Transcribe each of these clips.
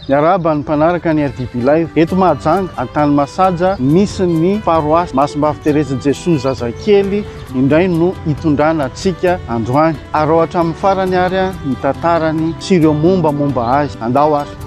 Miarahaba ny mpanaraka ny RDB Live. Eto Mahajanga, Antanimasaja, misy ny paroasy Masimbavy Terezin'i Jesoa Zazakely indray no hitondrana antsika androany. Araho hatramin'ny farany ary ny tantarany sy ireo mombamomba azy. Andao ary!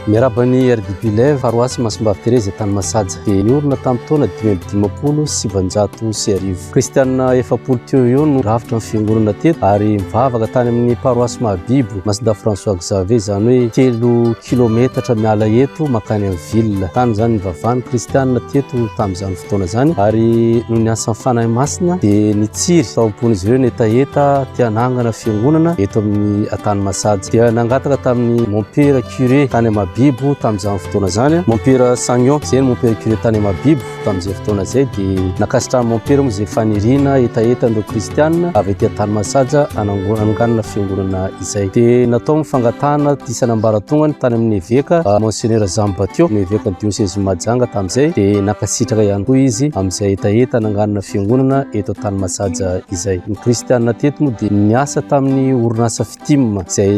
Miarahaba an'i RDB Live, paroasy Masimbavy Terezy tany Masaja. Dia niorina tamin'ny taona dimy amby dimampolo sy sivinjato sy arivo. Kristianina efapolo teo ho eo no rafitra ny fiangonana teto ary mivavaka tany amin'ny paroasy Mahabibo, Masindahy François Xavier, izany hoe telo kilometatra miala eto mankany amin'ny ville. Tany izany nivavahan'ny Kristianina teto tamin'izany fotoana izany. fotoana izany ary noho ny asan'ny Fanahy Masina dia nitsiry tao am-pon'izy ireo ny hetaheta te hanangana fiangonana eto amin'ny tany Masady. Dia nangataka tamin'ny mompera curé tany Mahabibo tamin'izany fotoana izany, mompera Sagnon, izay ny mompera curé tany Mahabibo tamin'izay fotoana izay, dia nankasitrahan'ny mompera moa izay faniriana hetaheta an'ireo kristiana avy aty an-tany Masady hanango- hananganana fiangonana. izay dia natao ny fangatahana ity sanambaratongany tany amin'ny eveka ah, Monseigneur Jean Batio, ny evekan'ny diosezin'i Mahajanga tamin'izay dia nankasitraka ihany koa izy amin'izay hetaheta nanganana fiangonana eto tany Masaja izay. Ny kristianina teto moa dia niasa tamin'ny orinasa Fitim izay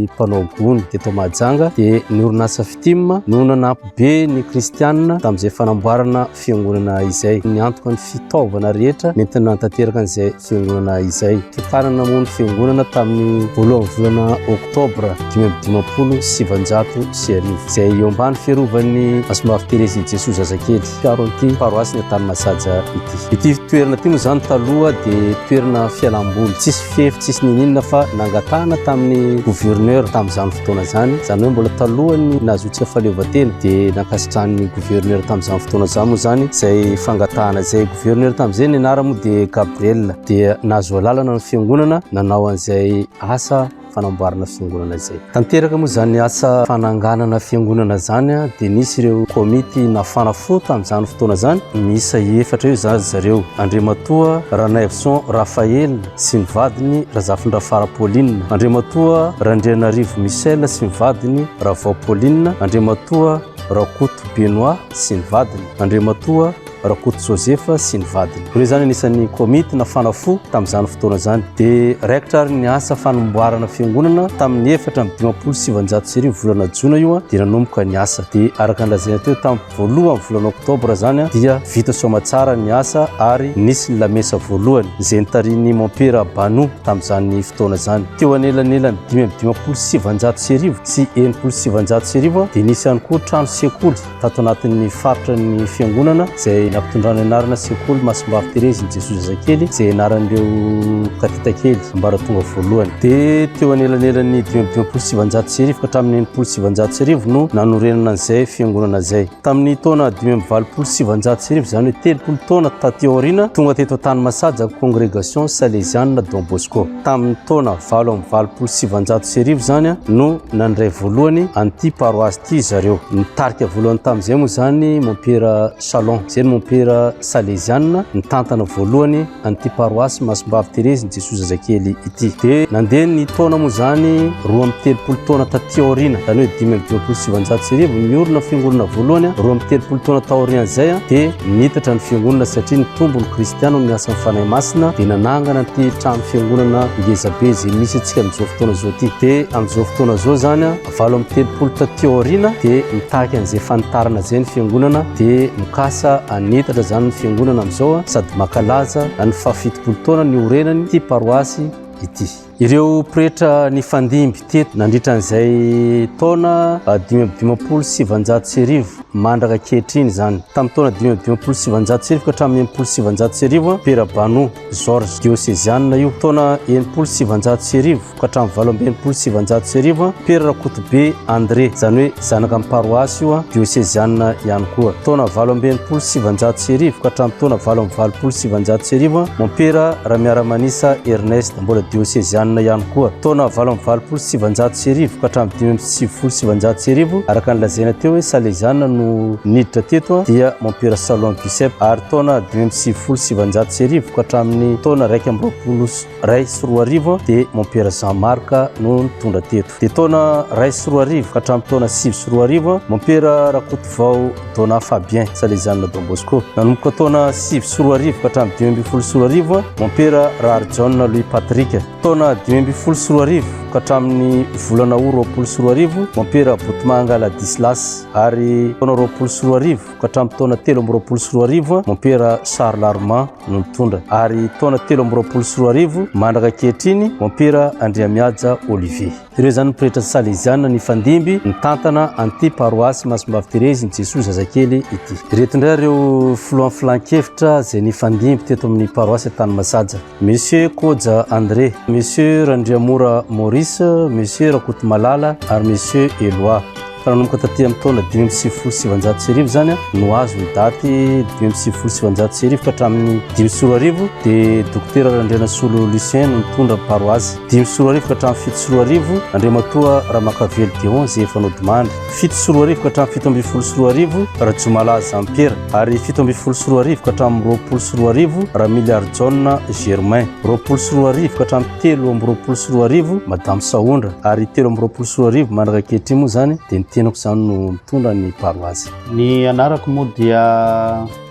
mpanao gony teto Mahajanga dia ny orinasa Fitim no nanampy be ny kristianina tamin'izay fanamboarana fiangonana izay niantoka ny fitaovana rehetra nentina nanatanteraka an'izay fiangonana izay. Tokana namoa ny fiangonana tamin'ny voalohan'ny volana oktobra dimy amby dimampolo sy sivanjato sy arivo izay eo ambany fiarovan'ny Asombavy Terezin'i Jesoa Zazakely mpiaro an'ity paroasina Taninasaja ity. Ity toerana ity moa izany taloha dia toerana fialamboly tsisy fefy tsisy nininona fa nangatahana tamin'ny gouverneur tamin'izany fotoana izany izany hoe mbola talohan'ny nahazoantsika fahaleovantena dia nankasitrahan'ny gouverneur tamin'izany fotoana izany moa izany izay fangatahana izay gouverneur tamin'izay ny anarana moa dia Gabriel dia nahazo alalana ny fiangonana nanao an'izay asa fanamboarana fiangonana izay Tanteraka moa izany asa fananganana fiangonana izany dia nisy ireo komity nafana fo tamin'izany fotoana izany, miisa efatra eo izany ry zareo, Andriamatoa Ranaivoson Raphaël sy ny vadiny Razafindrafara Pauline, Andriamatoa Randrianarivo Michel sy ny vadiny Ravao Pauline, Andriamatoa Rakoto Benoît sy ny vadiny, Andriamatoa. Rakoto Joseph sy ny vadiny. Ireo izany anisan'ny komity nafana fo tamin'izany fotoana izany. Dia raikitra ary ny asa fanomboarana fiangonana tamin'ny efatra amby dimampolo sy sivinjato sy arivo volana jona io dia nanomboka ny asa. Dia araka ny lazaina teo tamin'ny voalohan'ny volana oktobra izany dia vita soamatsara ny asa ary nisy ny lamesa voalohany izay nitarihin'ny mompera Banu tamin'izany fotoana izany. Teo anelanelan'ny dimy amby dimampolo sy sivinjato sy arivo sy enimpolo sy sivinjato sy arivo dia nisy ihany koa trano sekoly. tato anatin'ny faritra ny fiangonana izay nampitondrana anarana sekoly masimbavy terezy ny jesoa zazakely izay anaran'ireo katitakely ambaratonga voalohany dia teo anelanelan'ny dimydimampolo sivanjato sy arivo ka hatramin'ny enimpolo sivanjato sy arivo no nanorenana an'izay fiangonana izay tamin'ny taona dimy amby valopolo sivanjato sy arivo izany hoe telopolo taona taty aoriana tonga teto an-tany masaja congregation salesiana don bosco Tamin'ny taona valo amby valopolo sy sivanjato sy arivo izany no nandray voalohany an'ity paroasy ity zareo. Nitarika voalohany tamin'izay moa izany Mompera Chalon, izay ny Mompera Salezianina nitantana voalohany an'ity paroasy Masimbavy Terezin'i Jesoa Zazakely ity. Dia nandeha ny taona moa izany roa amby telopolo taona taty aoriana, izany hoe dimy amby dimampolo sy sivanjato sy arivo, niorina fiangonana voalohany roa amby telopolo taona taorian'izay dia Niitatra ny fiangonana satria nitombo ny kristiana amin'ny asan'ny Fanahy Masina dia nanangana ity trano fiangonana ngezabe izay misy antsika amin'izao fotoana izao ity. Dia amin'izao fotoana izao izany valo amby telopolo taty aoriana dia mitaky an'izay fanitarana izay ny fiangonana dia mikasa hanitatra izany ny fiangonana amin'izao sady mankalaza ny fahafitopolo taona niorenany ity paroasy ity. Ireo pretra nifandimby teto nandritra an'izay taona dimy amby dimampolo sy sivinjato sy arivo mandraka ankehitriny izany. Tamin'ny taona dimy amby dimampolo sy sivinjato sy arivo ka hatramin'ny enimpolo sy sivinjato sy arivo, Pera Bano Georges, diosezianina io. Taona enimpolo sy sivinjato sy arivo ka hatramin'ny valo amby enimpolo sy sivinjato sy arivo, Pera Rakotobe André, izany hoe zanaka ny paroasy io, diosezianina ihany koa. Taona valo amby enimpolo sy sivinjato sy arivo ka hatramin'ny taona valo amby valopolo sy sivinjato sy arivo, Mompera Ramiaramanisa Ernest. Mbola diosezianina ihany koa. Taona valo amby valopolo sy sivanjato sy arivo ka hatramin'ny dimy amby sivifolo sy sivanjato sy arivo, araka ny lazaina teo hoe Salezianina no niditra teto, dia Mompera Salon Giuseppe, ary taona dimy amby sivifolo sy sivanjato sy arivo ka hatramin'ny taona iraika amby roapolo sy iray sy roa arivo dia Mompera Jean Marc no nitondra teto. Dia taona iray sy roa arivo ka hatramin'ny taona sivy sy roa arivo, Mompera Rakotovao Donat Fabien, Salesianina Don Bosco. Nanomboka taona sivy sy roa arivo ka hatramin'ny dimy ambin'ny folo sy roa arivo, Mompera Raharijaona Louis Patrick. Taona dimy ambin'ny folo sy roa arivo ka hatramin'ny volana Août roapolo sy roa arivo, Mompera Botomanga Ladislas. Ary taona roapolo sy roa arivo, ka hatramin'ny taona telo amby roapolo sy roa arivo mompera Sary Larma no nitondra ary taona telo amby roapolo sy roa arivo mandraka ankehitriny mompera Andriamihaja Olivier. Ireo izany ny pretra salezianina nifandimby nitantana an'ity paroasy Masimbavy Terezin'i Jesoa Zazakely ity. Ireto indray ireo filohan'ny filankevitra izay nifandimby teto amin'ny paroasy Antanimazaja. Monsieur Koja André, Monsieur Randriamora Maurice, Monsieur Rakotomalala ary Monsieur Eloi. Fa nanomboka taty amin'ny taona dimy amby sivifolo sy sivanjato sy arivo izany no azo ny daty dimy amby sivifolo sy sivanjato sy arivo ka hatramin'ny dimy sy roa arivo dia Dokotera Randrianasolo Lucien no nitondra ny paroasy. Dimy sy roa arivo ka hatramin'ny fito sy roa arivo, Andriamatoa Ramakavelo Deon izay efa nodimandry. fito sy roa arivo ka hatramin'ny fito ambin'ny folo sy roa arivo Rajomalaza Jean Pierre ary fito ambin'ny folo sy roa arivo ka hatramin'ny roapolo sy roa arivo Ramiliary Jaona Germain, roapolo sy roa arivo ka hatramin'ny telo amby roapolo sy roa arivo Madame Sahondra ary telo amby roapolo sy roa arivo mandraka ankehitriny moa izany dia ny tenako izany no mitondra ny paroasy. Ny anarako moa dia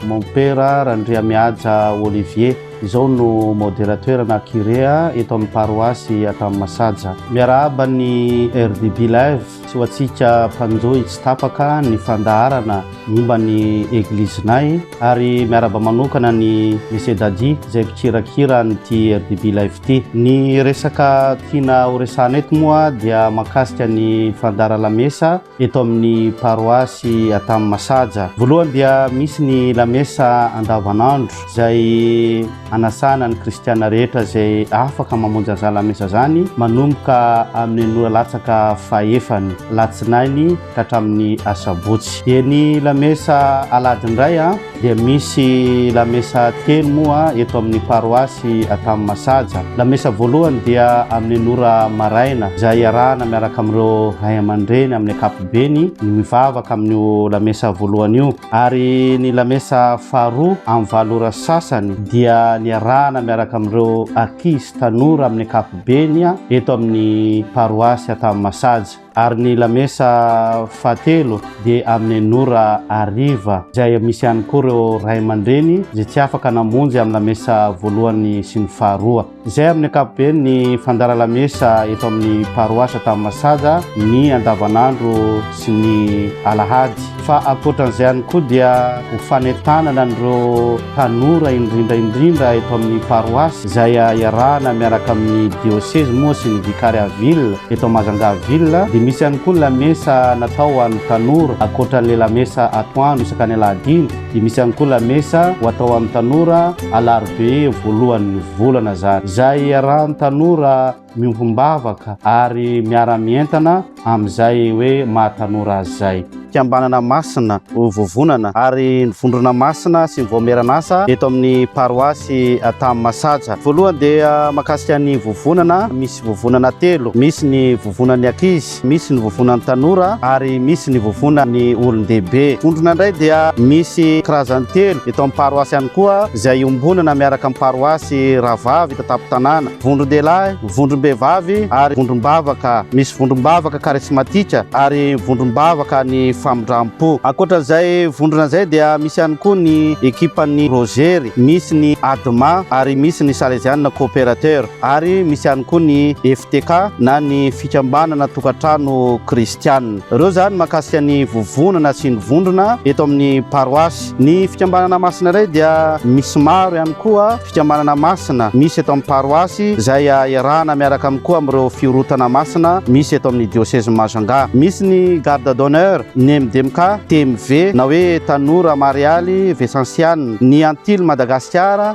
Mompera Randriamihaja Olivier, izao no Moderateur na Curé eto amin'ny paroasy Antanimasiaja. Miarahaba ny RDB Live Tsy ho antsika mpanjohy tsy tapaka ny fandaharana momba ny Eglizinay ary miarahaba manokana ny Monsieur Dadi izay mpikirakira an'ity RDB Live ity. Ny resaka tiana horesahana eto moa dia mahakasika ny fandahara lamesa eto amin'ny paroasy Antamomasaja. Voalohany dia misy ny lamesa andavanandro izay Anasana ny kristiana rehetra izay afaka mamonjy an'izany lamesa izany manomboka amin'ny anio latsaka fahefany, alatsinainy ka hatramin'ny asabotsy. Dia ny lamesa alahady indray a, dia misy lamesa telo moa eto amin'ny paroasy Antanimasaja. Lamesa voalohany dia amin'ny enina ora maraina izay iarahana miaraka amin'ireo ray aman-dreny amin'ny ankapobeny ny mivavaka amin'io lamesa voalohany io. Ary ny lamesa faharoa amin'ny valo ora sasany dia niarahana miaraka amin'ireo ankizy tanora amin'ny ankapobeny eto amin'ny paroasy Antanimasaja. Ary ny lamesa fahatelo dia amin'ny enina ora hariva izay misy ihany koa ireo ray aman-dreny izay tsy afaka namonjy amin'ny lamesa voalohany sy ny faharoa. Izay amin'ny ankapobeny ny fandara lamesa eto amin'ny paroasa tamin'ny masaja ny andavanandro sy ny alahady. Fa ankoatran'izay ihany koa dia ho fanentanana an'ireo tanora indrindra indrindra eto amin'ny paroasy izay iarahana miaraka amin'ny diosezy moa sy ny vicariat ville eto Majanga ville dia misy ihany koa ny lamesa natao ho an'ny tanora ankoatran'ilay lamesa atoandro isaka ny alahadiny dia misy ihany koa lamesa ho atao amin'ny tanora alarobia voalohan'ny volana izany izay hiarahan'ny tanora miombom-bavaka ary miara-mientana amin'izay hoe maha tanora azy izay. Fikambanana Masina ho vovonana ary ny Vondrona Masina sy ny Vaomieran'asa eto amin'ny paroasy Antanimasaja. Voalohany dia mahakasika ny vovonana, misy vovonana telo, misy ny vovonan'ny ankizy, Misy ny voavoana ny tanora ary misy ny voavoana ny olon-dehibe. Vondrona indray dia misy karazany telo eto amin'ny paroasy ihany koa izay iombonana miaraka amin'ny paroasy rahavavy eto an-tampon-tanàna, vondron-dehilahy, vondrom-behivavy ary vondrom-bavaka. Misy vondrom-bavaka karismatika ary vondrom-bavaka ny famindram-po. Ankoatra izay vondrona izay dia misy ihany koa ny ekipan'ny Rozery, misy ny Adma ary misy ny Salesianina Cooperateur. ary misy ihany koa ny FTK na ny fikambanana tokantrano kristiana. Ireo izany mahakasika ny vovonana sy ny vondrona eto amin'ny paroasy. Ny fikambanana masina indray dia misy maro ihany koa fikambanana masina misy eto amin'ny paroasy izay iarahana miaraka amin'ny koa amin'ireo fiorotana masina misy eto amin'ny diosezin'i Majunga. Misy ny Garde d'honneur, ny MDMK, TMV na hoe Tanora Marialy Vesansiana, ny Antily Madagasikara,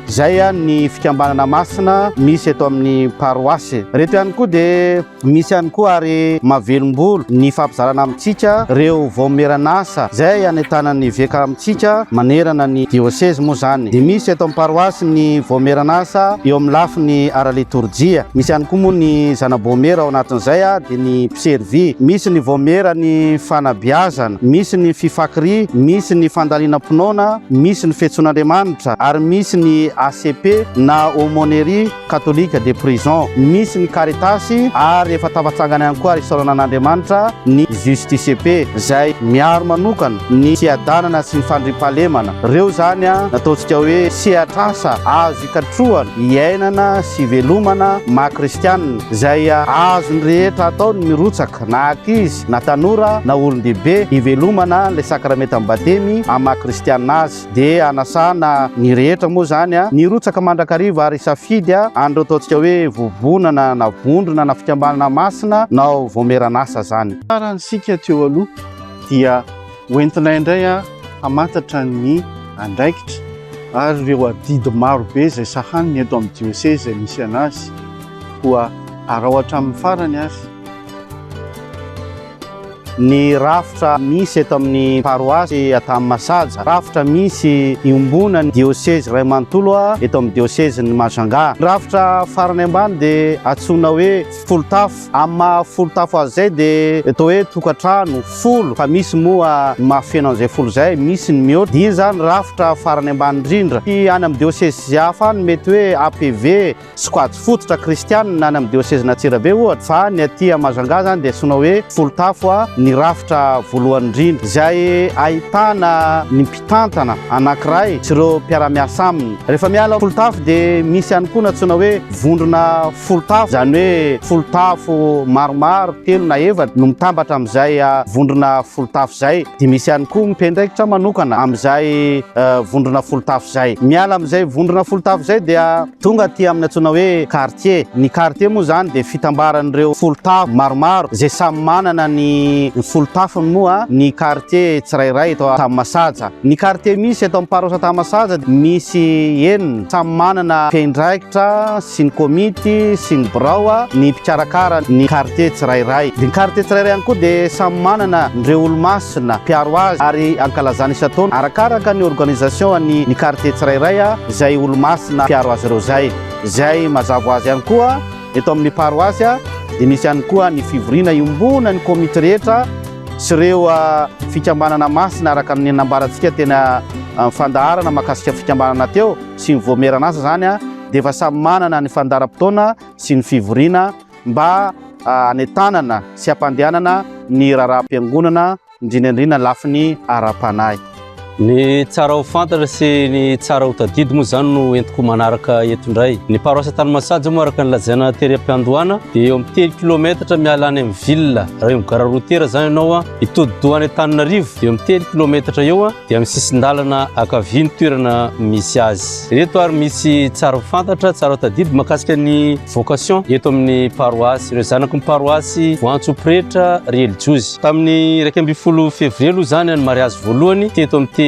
Izay ihany ny fikambanana masina misy eto amin'ny paroasy. Ireto ihany koa dia misy ihany koa ary mahavelom-bolo ny fampizarana amintsika ireo vaomieran'asa izay anentanan'ny eveka amintsika manerana ny diosezy moa izany. Dia misy eto amin'ny paroasy ny vaomieran'asa eo amin'ny lafiny ara-litorjia. Misy ihany koa moa ny zana-boamiera ao anatin'izay dia ny mpiservy. Misy ny vaomieran'ny fanabeazana, misy ny fifakiria, misy ny fandalinam-pinoana, misy ny fiantsoan'Andriamanitra. Ary misy ny ACP na Aumônerie Catholique de Prison, misy ny Caritas ary efa tafatsangana ihany koa ary isaorana an'Andriamanitra ny Justicp izay miaro manokana ny fiadanana sy ny fandriampahalemana. Ireo izany no ataontsika hoe sehatr'asa azo ikatrohana iainana sy ivelomana maha kristianina izay azon'ny rehetra atao ny mirotsaka na ankizy na tanora na olon-dehibe hivelomana ilay sakramentan'ny Batemy amin'ny maha kristianina azy. dia anasana ny rehetra moa izany nirotsaka mandrakariva ary hisafidy an'ireo ataontsika hoe vovonana na vondrona na fikambanana masina na voamieran'asa izany. Tsara ny sika teo aloha dia hoentinay indray hamantatra ny andraikitra ary ireo adidy maro be izay sahaniny eto amin'ny dioseza izay misy an'azy koa arao hatramin'ny farany ary. Ny rafitra misy eto amin'ny paroasy Antanimasaja, rafitra misy iombonan'ny diosezy iray manontolo eto amin'ny diosezin'i Majanga. Ny rafitra farany ambany dia antsoina hoe folotafo. Amin'ny maha folotafo azy izay dia atao hoe tokantrano folo fa misy moa ny mahafeno an'izay folo izay, misy ny mihoatra. Dia iny izany rafitra farany ambany indrindra. Tsy any amin'ny diosezy hafa any mety hoe APV. sokajy fototra kristianina any amin'ny diosezin'Antsirabe ohatra, fa ny aty à Majanga zany dia antsoina hoe Folotafo a, ny rafitra voalohany indrindra izay ahitana ny mpitantana anankiray sy ireo mpiara-miasa aminy. Rehefa miala Folotafo dia misy ihany koa ny antsoina hoe vondrona Folotafo, izany hoe Folotafo maromaro telo na efatra no mitambatra amin'izay vondrona Folotafo izay, dia misy ihany koa mpiandraikitra manokana amin'izay vondrona Folotafo izay. Miala amin'izay vondrona Folotafo izay dia. Tonga aty amin'ny antsoina hoe quartier. Ny quartier moa izany dia fitambaran'ireo folon-tafo maromaro izay samy manana ny folon-tafony moa ny quartier tsirairay eto Tahamasatsa. Ny quartier misy eto amin'ny paroisse Tahamasatsa dia misy enina, samy manana mpiandraikitra sy ny komity sy ny birao ny mpikarakara ny quartier tsirairay. Ny quartier tsirairay ihany koa dia samy manana ireo olomasina mpiaro azy ary ankalazana isan-taona arakaraka ny organisation an'ny quartier tsirairay. izay olo-masina mpiaro azy ireo izay. Izay mazava ho azy ihany koa, eto amin'ny paroasy dia misy ihany koa ny fivoriana iombonan'ny komity rehetra sy ireo fikambanana masina araka ny nambarantsika teny amin'ny fandaharana mahakasika fikambanana teo sy ny voamieran'asa izany dia efa samy manana ny fandaharam-potoana sy ny fivoriana mba hanentanana sy hampandehanana ny raharaham-piangonana indrindra indrindra lafiny ara-panahy. Ny tsara ho fantatra sy ny tsara ho tadidy moa izany no entiko manaraka eto indray. Ny paroasy Antanimasahajy moa araka ny lazaina tery am-piandohana dia eo amin'ny telo kilometatra miala any amin'ny ville. Raha eo amin'ny gara routière izany ianao hitodi-doha any Antananarivo dia eo amin'ny telo kilometatra eo dia amin'ny sisin-dalana ankavia ny toerana misy azy. Ireto ary misy tsara ho fantatra, tsara ho tadidy mahakasika ny. vocation eto amin'ny paroasy ireo zanaky ny paroasy voantso pretra relijiozy tamin'ny iraika ambin'ny folo février aloha izany any mariazy voalohany ty eto amin'ity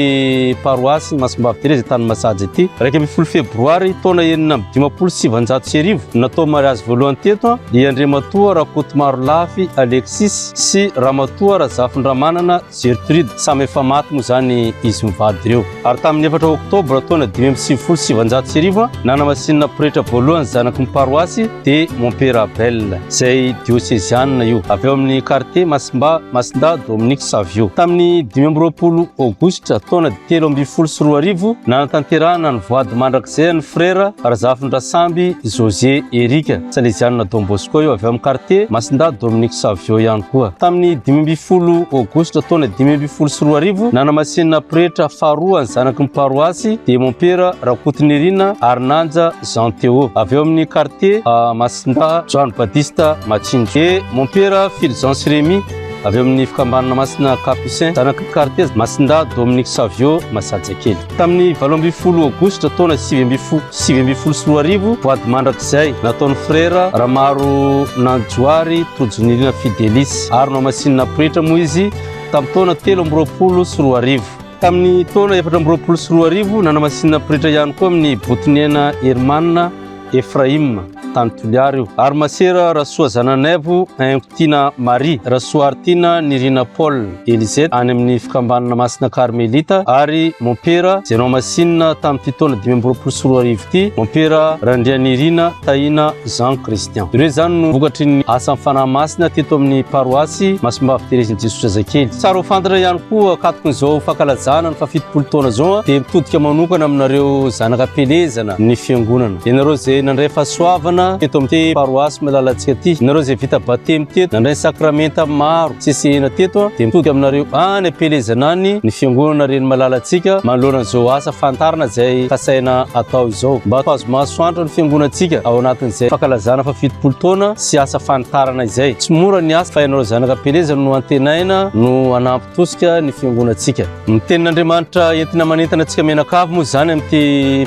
paroasy masimbavy tereza tany masaja ity iraika ambin'ny folo febroary taona enina amby dimampolo sy sivanjato sy arivo natao mariazy voalohany teto i andriamatoa rakotomaro lafy alexis sy ramatoa razafindramanana Gertrude, samy efa maty moa izany izy mivady ireo. Ary tamin'ny efatra Oktobra taona dimy amby sivifolo sy sivinjato sy arivo, nanamasinina pretra voalohany zanaky ny paroasy de Mompera Abel, izay diosezianina io, avy ao amin'ny kartie Masimba Masinda Dominique Savio. Tamin'ny dimy amby roapolo Aogositra taona telo ambin'ny folo sy roa arivo, nanatanterahana ny voady mandrakizay an'i Frera Razafindrasamby José Eric. Salesianina Don Bosco io avy ao amin'ny kartie Masindahy Dominique Savio ihany koa. Tamin'ny dimy ambin'ny folo Aogositra taona dimy ambin'ny folo sy roa arivo, nanamasinina pretra faharoa ny zanaky ny paroasy dia Mompera Rakotonirina Harinanja Jean Théo, avy ao amin'ny kartie Masindahy Joany Badista Matsinjo. Dia Mompera Fulgence Rémy, avy ao amin'ny fikambanana Masina Capucin, zanaky ny kartie Masindahy Dominique Savio Masajakely. Tamin'ny valo ambin'ny folo aogositra taona sivy ambin'ny fo- sivy ambin'ny folo sy roa arivo, voady mandrakizay nataon'ny frera Ramaro Nanjoary Tojonirina Fidelis ary nohamasinina pretra moa izy tamin'ny taona telo amby roapolo sy roa arivo. Tamin'ny taona efatra amby roapolo sy roa arivo, nanamasinina pretra ihany koa amin'ny Botoniaina Herman Efraima, tany Toliara io, ary Masera Rasoazananaivo, Aimpotiana Marie, Rasoaritiana Nirina Paul, Elizet, any amin'ny Fikambanana Masina Karmelita, ary Mompera Zenomasinina tamin'ity taona dimy amby roapolo sy roa arivo ity, Mompera Randrianirina Tahina Jean Christian. Ireo izany no vokatry ny asan'ny Fanahy Masina teto amin'ny Paroasy Masimbavy Terezin'i Jesoa Zazakely. Tsara ho fantatra ihany koa, ankatokin'izao fankalazana ny fahafitopolo taona izao dia mitodika manokana aminareo zanaka am-pielezana, ny fiangonana. Ianareo izay nandray fahasoavana teto amin'ity paroasy malalantsika ity, ianareo izay vita batemy teto, nandray ny sakramenta maro tsy sehena teto, dia mitodika aminareo any am-pielezana any ny fiangonana reny malalantsika manoloana an'izao asa fantarina izay kasaina atao izao, mba ho azo masoandro ny fiangonantsika ao anatin'izay fankalazana faha fitopolo taona sy asa fanitarana izay. Tsy mora ny asa fa ianareo zanaka am-pielezana no antenaina no hanampy. Tosika ny fiangonantsika. Ny tenin'Andriamanitra entina manentana antsika mianakavy moa izany amin'ity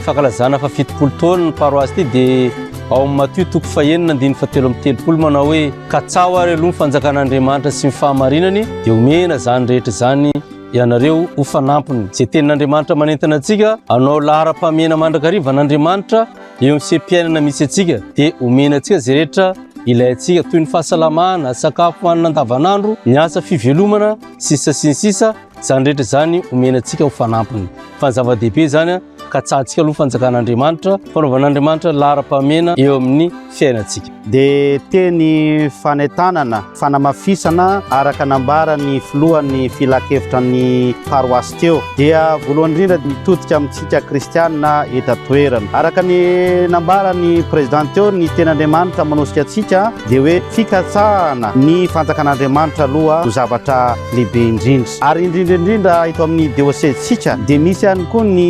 fankalazana fa fitopolo taona ny paroasy ity dia ao amin'ny Matio toko fahenina andininy fatelo amby telopolo manao hoe katsaho ary aloha ny fanjakan'Andriamanitra sy ny fahamarinany dia omena izany rehetra izany ianareo ho fanampiny. Izay tenin'Andriamanitra manentana antsika hanao laharam-pahamehana mandrakariva an'Andriamanitra Eo amin'ny seha-piainana misy antsika dia omena antsika izay rehetra ilaintsika toy ny fahasalamana, sakafo hanina andavanandro, ny asa fivelomana, sisa sy ny sisa, izany rehetra izany omena antsika ho fanampiny. Fa ny zava-dehibe izany ka tsahantsika aloha fanjakan'Andriamanitra, fanaovan'Andriamanitra laharam-pahamena eo amin'ny fiainantsika. dia teny fanentanana, fanamafisana araka nambaran'ny filohan'ny filankevitra ny paroasy teo dia voalohany indrindra mitodika amintsika kristianina eto an-toerana. Araka ny nambaran'ny prezidanty teo ny tenin'Andriamanitra manosika antsika dia hoe fikatsahana ny fanjakan'Andriamanitra aloha no zavatra lehibe indrindra ary indrindra indrindra eto amin'ny diosezintsika dia misy ihany koa ny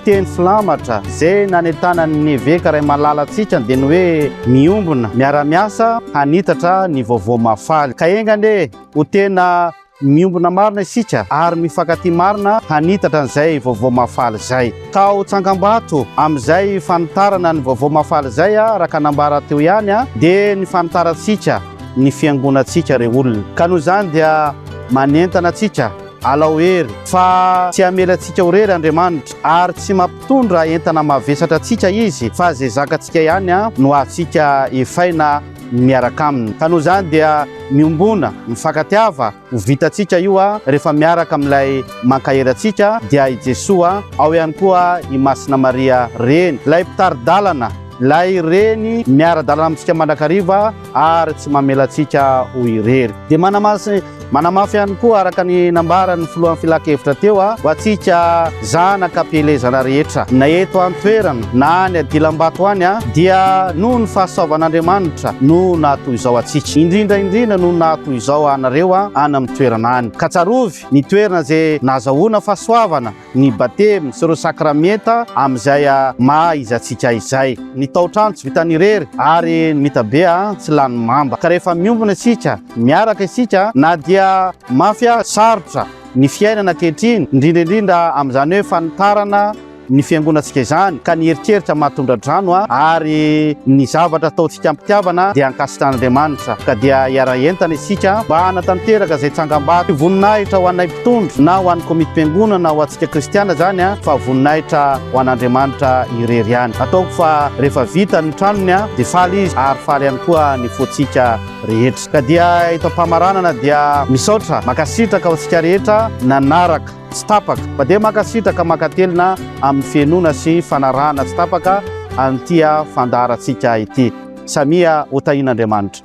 Teny filamatra izay nanentanan'ny eveka Raimalalatsika dia ny hoe miombona, miara-miasa hanitatra ny vaovao mahafaly. Ka enga anie ho tena miombona marina isika ary mifankatia marina hanitatra an'izay vaovao mahafaly izay. Tao Tsangambato, amin'izay fanitarana ny vaovao mahafaly izay, araka ny nambara teo ihany, dia ny fanitarantsika ny fiangonantsika ireo olona. Ka noho izany dia manentana antsika. Alao hery, fa tsy hamela antsika ho rery Andriamanitra, ary tsy mampitondra entana mavesatra antsika Izy, fa izay zakantsika ihany no hahatsika hefaina miaraka Aminy. Ka noho izany dia miombona, mifankatiava, ho vitantsika io rehefa miaraka amin'ilay mankahery antsika, dia i Jesoa, ao ihany koa i Masina Maria Reny, ilay mpitari-dalana, ilay Reny miara-dalana amintsika mandrakariva ary tsy mamela antsika ho irery. Dia manamasin Manamafy ihany koa araka ny nambaran'ny filohan'ny filankevitra teo ho antsika zanaka am-pielezana rehetra na eto an-toerana na any adilambato any dia noho ny fahasoavan'Andriamanitra no nahatoy izao antsika indrindra indrindra no nahatoy izao anareo any amin'ny toerana any ka tsarovy ny toerana izay nahazahoana fahasoavana ny batemy sy ireo sakramenta amin'izay maha izy antsika izay. Ny taotrano tsy vitany irery ary ny mitabe tsy lany mamba ka rehefa miombona isika, miaraka isika na dia mafy aza sarotra ny fiainana ankehitriny, indrindra indrindra amin'izany hoe fanitarana ny fiangonantsika izany ka ny eritreritra maha tondra-drano ary ny zavatra ataontsika am-pitiavana dia ankasitran'Andriamanitra ka dia hiara-hientana isika mba hanatanteraka izay tsangambato sy voninahitra ho anay Tondro, na ho an'ny Komitim-piangonana na ho antsika kristiana izany, fa voninahitra ho an'Andriamanitra irery ihany. Ataoko fa rehefa vita ny tranony dia faly izy ary faly ihany koa ny fontsika rehetra. Ka dia eto am-pamaranana dia misaotra, mankasitraka ho antsika rehetra nanaraka tsy tapaka, fa dia mankasitraka mankatelina amin'ny fihainoana sy fanarahana tsy tapaka an'ity fandaharantsika ity. Samia ho tahian'Andriamanitra.